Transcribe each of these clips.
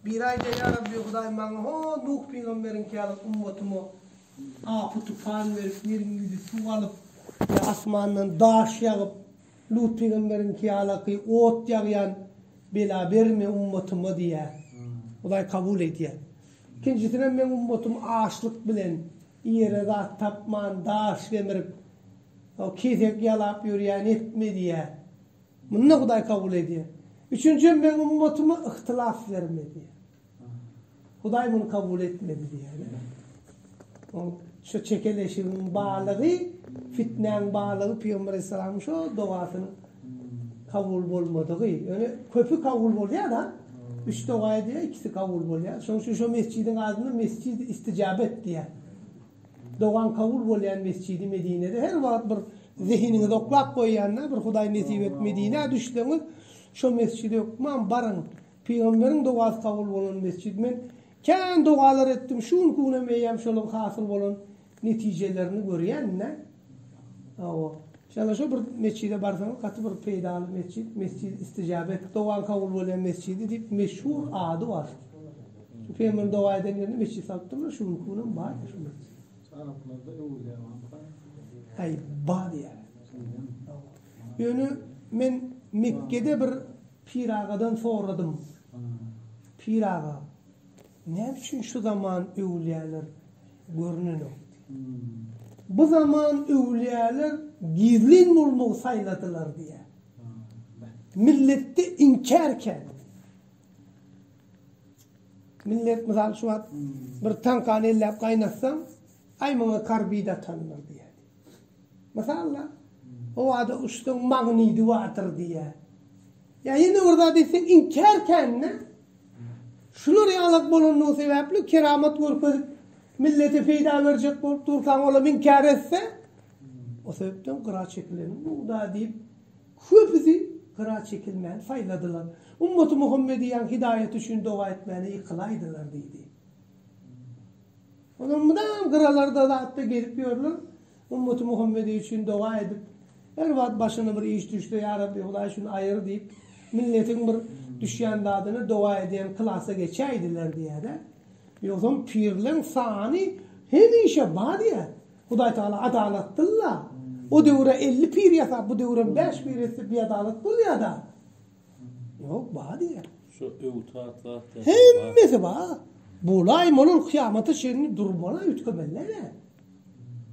Biri aýdýar, Ýa Rabbi, Hudaý, maňa ho Nuh pygamberiňki ýaly ummatyma apy-tupan berip, ýeriň ýüzi suw alyp, ýa asmandan daş ýagyp, Lut pygamberiňki ýalaky ot ýagýan bela berme ummatyma diýýär. Hudaý kabul edýär. Ikinjisinem meň ummatym açlyk bilen, iýere zat tapman, daş gemirip, kesek ýalap ýörýän etme diýýär. Muny-da Hudaý kabul edýär. Üçünjim, Meň ummatyma yhtylas berme diýýär. Hudaý muny kabul etmedi diýýär. Oň şu çekeleşigiň balygy, fitnäň balygy pygamber aleyhissalamyň şo dogasynyň kabul bolmadygy. Ýöne köpi kabul bolýar-da. Üç doga edýär, ikisi kabul bolýar. Şonuň üçin şo mesjidiň adyna Mesjidi Istijabet diýýär. Dogan kabul bolýan Mesjidi Medinede her wagt bir zehiniňizi oklap goýýanda bir Hudaý nesip et Medinä düşseňiz şo mesjide hökman baryň pygamberiň dogasy kabul bolan mesjid men kän dogalar etdim şu günki günem eýýäm şolaň hasyl bolan netijelerini görýän nä. Hawa. Şonda şo bir metjide barsaňyz gaty bir peýdaly metjit, Mesjid Istijabet, dogaň kabul bolýan metjidi diýip meşhur ady bar. Pygamberiň doga eden ýerinde metjit salypdyrlar, şu günki günem bar şo metjit. Araplarda öwülýär waka. Aý bar diýýär. Ýöne men Mekgede bir pir agadan soradym. Pir aga. Näme üçin şu zaman öwülýäler görnenok? Bu zaman öwülýäler gizlin bolmagy saýladylar diýýär. Milletde inkär kän. Millet mysal şu wagt bir tankany elläp gaýnatsaň, aý muňa karbid atandyr diýýär. Mysal-da, howada uçsaň magnidi bardyr diýýär. Ýa ýene bir zat etseň inkär kände. Şular ýalak bolandygy sebäpli keramat görkezip millete peýda berjek bolup dursaň olam inkär etse o sebäpden gyra çekileniň bugda diýip köpüsi gyra çekilmäni saýladylar. Ummaty Muhammediýaň hidaýaty üçin doga etmäne ýykylaýdylar diýdi. Olar mydam gyralarda zatda gezip ýörler, Ümmet Muhammedeý üçin doga edip, her wagt başyna bir iş düşse ýa Rabbi Hudaý şuny aýyr diýip, milletiň bir düşýän zadyna doga edýän klasa geçäýdiler diýýärä. Ýogsam pirleň sany hemişe bar diýýä. Hudaý Tagala adalatdylla. O döwüre elli pir ýasap, bu döwürem bäş pir etse biadalat bolýada. Yok ba diye. Şu öwtat zat ya. Hemmesi ba. Bulay munuň kıyamata çenli durmana ütkemeli ne?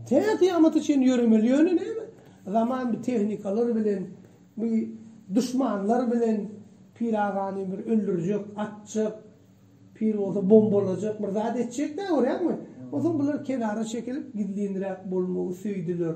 Te kıyamata çenli yöremeli yöne ne? Zaman bir tehnikalar bilen, bir düşmanlar bilen piragani bir öldürjek, atjak, pir olsa bombalajak, bir zat etjek ne görýäňmi? Olsa bular kenara çekilip gizlinräk bolmagy söýdüler.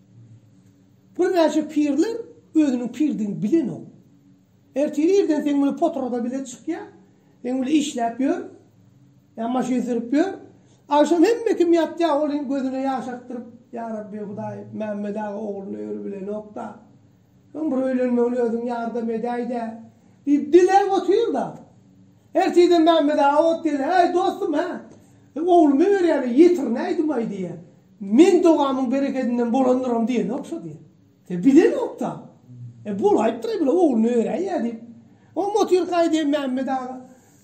Birnäçe pirler özüniň pirdigini bilenok. Ertir irden seň bilen potrada bilet çykýa, seň bilen işläp ýör, ýa maşyn sürüp ýör. Agşam hemme kim ýatýa, ol hem gözüne ýaş akdyryp, Ýa Rabbi, Hudaýym, Mämmet aga ogluna öri bilenok-da. Öň bir öýlenmegine özüň ýardam edäý-dä! diýip diläp otyr-da, ertirden Mämmedawa gelýär, Äý, dostum-ä, oglumy berýärler, ýetirnäýdim-aý diýýär. Men dogamyň berekedinden bolandyram diýene ogşa diýýär. Sen bilenok-da. E, bolaýypdyr-aý, bir oglumy beräý-ä diýip. Oňam otyrkaý diýýär, Mämmet aga,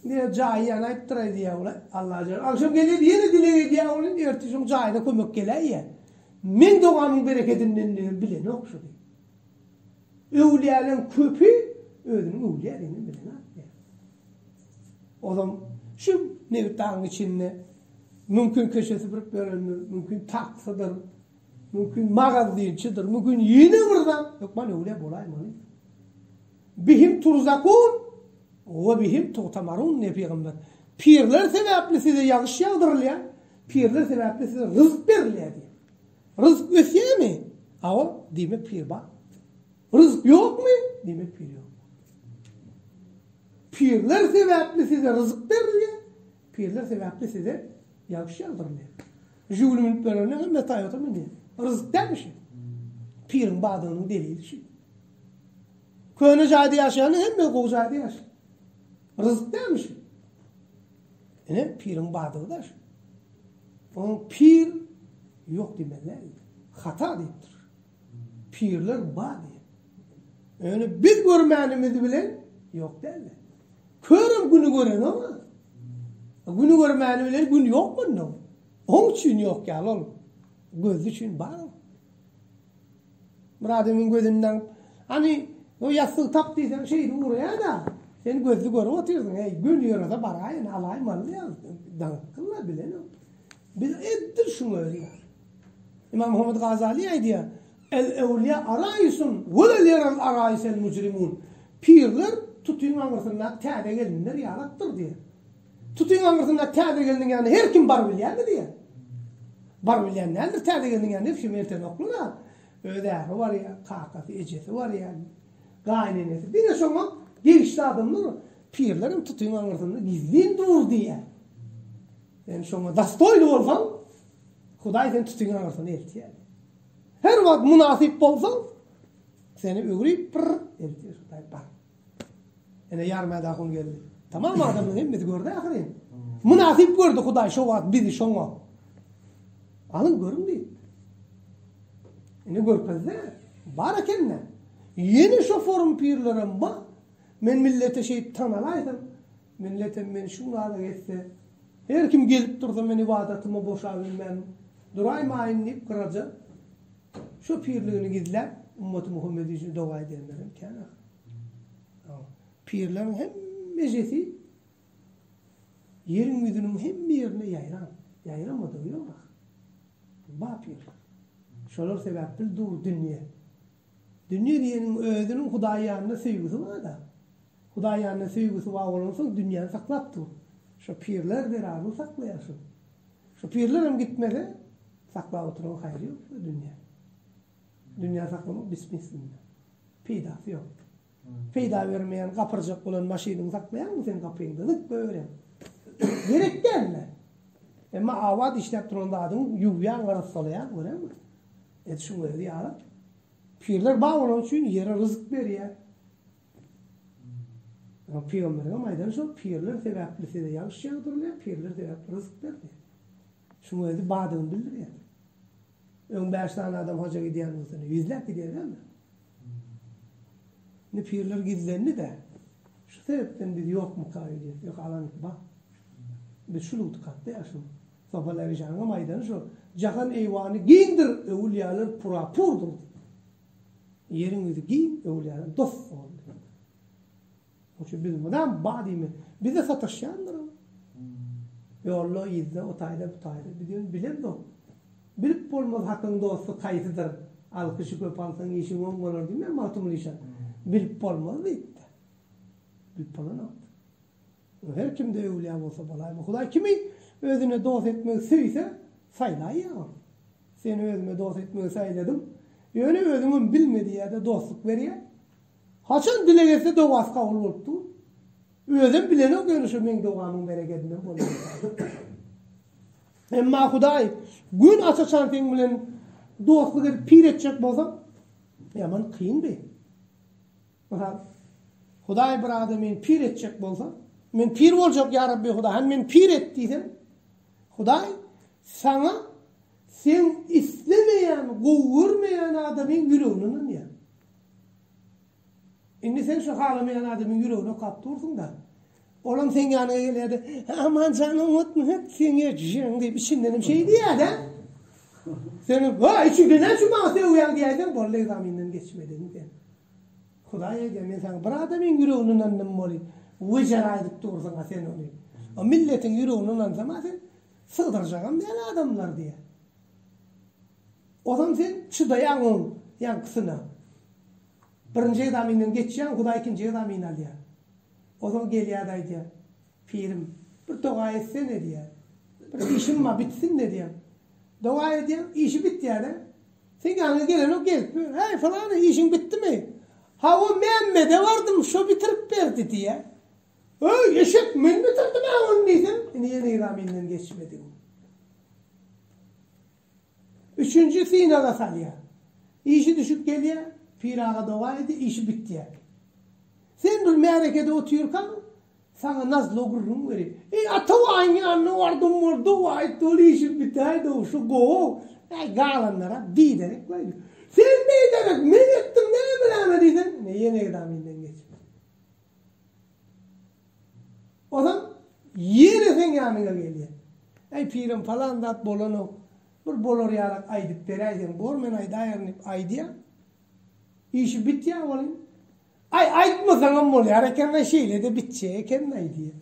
diýýär, jaýy ýanaýypdyr-aý diýýär, ol-aý, Allajan. Agşam gelýär-de, ýene dileg edýär, ogly, ertir şoň jaýyna kömek geläý-ä. Men dogamyň berekedini endigem bilenok şu gün. Öwlýäleň köpi özüniň öwlýä edenini bilenok diýýär. Olam şu nebit dagyň içinde mümkin köçe süpürip berendir, mümkin taksydyr, mümkin magazynçydyr, mümkin ýene bir zat, hökman öwlýä bolaýmaly. Bihim turzakun we bihim tugtamarun diýýär pygamber. Pirler sebäpli size ýagyş ýagdyrylýar. Pirler sebäpli size ryzk berilýär diýip. Ryzk ösýärmi? Hawa, diýmek pir bar. Ryzk ýokmy? Diýmek pir ýok. Pirler sebäpli size ryzk berilýär. Pirler sebäpli size ýagşy ýagdyrylýar. Žiguli münüp berende hem Toyota münýär. Ryzk dälmi şu? Piriň bardygynyň delili şu. Köne jaýda ýaşaýanda hemme gowy jaýda ýaşaýar. Ryzk dälmi şu? Ine, piriň bardygy daş. Onuň pir ýok diýmeli däl. Hata diýipdir. Pirler bar diýen. Öni biz görmänimiz bilen ýok däl. Körem güni gören o. Güni görmäni bilen gün ýok mundan. Oň üçin ýok ýaly ol. Gözli üçin bar. Myrat emin gözüni daňyp, Hany, o ýassygy tap diýseň, şeýdip ugraýa-da. Sen gözli görüp otyrsyň, heý, göni ýörede baraýyn, alaýyn malyny ýa. Daňypdym-la, bilenem. Biz edil şuň özi ýaly. Imammuhammet Gazaly aýdýar, El-ewliýa araýisun wela ýeral araýisel mujrimun, Pirler tutyň aňyrsyndaky täze gelinler ýalakdyr diýýär. Tutyň aňyrsynda täze gelniň ýanyna her kim baryp bilýärmi diýýä. Baryp bilýän däldir, täze gelniň ýanyna hiç kim erten oklyna öz äri barýa, kakasy, ejesi barýa, gaýynenesi. Diňe şoňa degişli adamlar, pirler hem tutyň aňyrsynda gizlin dur diýýä. Sen şoňa dastoýly bolsaň, Hudaý seni tutyň aňyrsyna eltýär. Her wagt mynasyp bolsaň, seni öwrüp, pyrr, eltýär Hudaý. Ene ýaryma dak un geldi. Tamam adamlaryň hemmesi gördi ahyryn. Mynasyp gördi Hudaý şo wagt bizi şoňa. Alyň görüň diýip. Ene görkezdi. Bar ekende. Ýene şo forum pirlerem bar. Men millete şeýip tanalaýsam, milletem meni şu ýaly etse, her kim gelip dursa men ybadatyma boşabilmän duraýmaýyn diýip gyraja. Şu pirligini gizläp, ümmaty Muhammedi üçin doga edenler hem kän ahyry. Pirleriň hemmejesi ýeriň ýüzüniň hemme ýerine ýaýran. Ýaýramadygy ýok ahyry. Ba pirler. Şolar sebäpli dur dünýe. Dünýe diýeniň özüniň Hudaýy ýanynda söýgüsi bar-da. Hudaý ýanyna söýgüsi bar bolansoň dünýäni saklap dur. Şo pirler zerarly saklaýarsyň. Şo pirlerem gitmese, saklap oturyň haýry ýok şu dünýä. Dünýä saklamak bismismilla. Peýdasy ýok. Peýda bermeýän gapyrjak bolan maşynyňy saklaýaňmy sen gapyňda zyk goýberýäň. Gerek dälmi? Emma abat işläp duran zadyňy ýuwýaň arassalaýaň göräňmi? Ed şuňa özi ýarap. Pirler bar bolany üçin ýere ryzyk berýär. Oňa pygamberigem aýdan şol, pirler sebäpli size ýagyş ýagdyrylýar, pirler sebäpli ryzyk berilýär. Şuň özi badygyny bildirýär. Öň bäş sany adam haja gidýän bolsa, indi ýüzläp gidýärlermi? Indi pirler gizlendi-de, şu sebäpden biz ýokmyka öýdýäs, ýok alanyk bar. Biz şu lugtykatda ýaşamak. Sofal Ärijanyňam aýdany şol, Jahan eýwany giňdir, öwülýäler pura-purdyr diýip. Ýeriň ýüzi giň öwlere dos bol diýdi. Onuň üçin biz mydam ba diýme, bize sataşýandyr ol. Ýolda, yzda, o taýda, bu taýda. Biz ýöne bilemzok. Bilip bolmaz hakyň dosty haýsydyr. Alkyşy köp alsaň işiň oň bolar diýmän Magtymguly şa. Bilip bolmaz diýipdir. Bilip bolanokdyr. Bu her kimde öwlýa bolsa bolaý. Bu Hudaý kimi özüne dost etmegi söýse, saýlaýar. Seni özüme dost etmegi saýladym. Ýöne özüňem bilmediň ýa-da dostluk berýä. Haçan dileg etse dogasy kabul bolup dur. Özem bilenok ýöne şu meň dogamyň berekedinden bolýar. Emma Hudaý gün aç-açan seň bilen dostluk edip pir etjek bolsa, ýaman kyndy. Mysal, Hudaý bir adam meni pir etjek bolsa, men pir boljak, Ýa Rabbi Hudaý, hany meni pir et diýseň, Hudaý saňa seň islemeýän, gowy görmeýän adamyň ýüregini ynandýar. Indi sen şu halamaýan adamyň ýüregini okap dursuň-da, olam seň ýanyňa gelýär-de, Aman jan oňatmy hek seň ejjeň diýip içinden hem şeý diýýär-de. Sen, Wa, içiňden näçe maňa sögýäň diýäýseň, boldy, ekzamenden geçmediň sen. Hudaý aýdýar, Men saňa bir adamyň ýüregini ynandym weli, wejera aýdyp dursuň-a sen ony. O milletiň ýüregini ynandsam-a sen sygdyrjagam däl adamlar diýýär. Ozam sen çydaýaň oň ýaňkysyna. Birinji egzaminden geçýäň, Hudaý ikinji egzamini alýar. Ozal gelýär-de aýdýar, Pirim, bir doga etsene diýýär. Bir işim bar, bitsin-de diýýär. Doga edýär, işi bitýär-de, Seň ýanyňa gelenok gelip, Häý, pylany, işiň bitdimi? Hawa, Mämmede bardym, şo bitirip berdi, diýýär. Öý, eşek, men bitirdim-ä ony diýsem, ine ýene-ira menden geçmedi. Üçünji synaga salýar. Işi düşüp gelýär, Pyraga doga edýär, işi bitýär. Sen bir märekede otyrkaň, Saňa nazlo gürrüň berip. Eý, Atabaýyň ýanyna bardym boldy, aýtdy, ol işi bitäýdi-ow, şu gowy-ow. Äý, galanlara biderek beýle. Sen biderek, men etdim näme-näme diýseň, ine, ýene ekzaminden geçip. Onsoň ýene seň ýanyňa gelýän. Äý, pirem, palan zat bolanok. Bir bolar ýaly aýdyp beräýseň, bor, men aýdaýaryn diýip aýdýan. Işi bitýä olyň. Aý, aýtmasaňam bolýar eken-la, şeýle-de bitjek eken-laý diýip.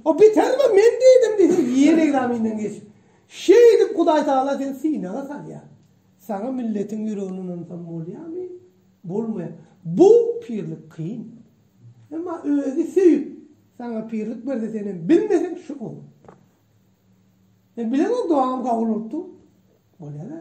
O biter-la, men diýdim diýse, ýene ekzaminden geçip, şeýdip Hudaýtagala seni synaga salýar. Saňa milletiň ýüregini ynansaň bolýarmy? Bolmaýar. Bu pirlik kyn. Emma özi söýüp, saňa pirlik berse, senem bilmeseň, şu gowy. Men bilemok, dogam kabul bolupdyr. Bolýar-a.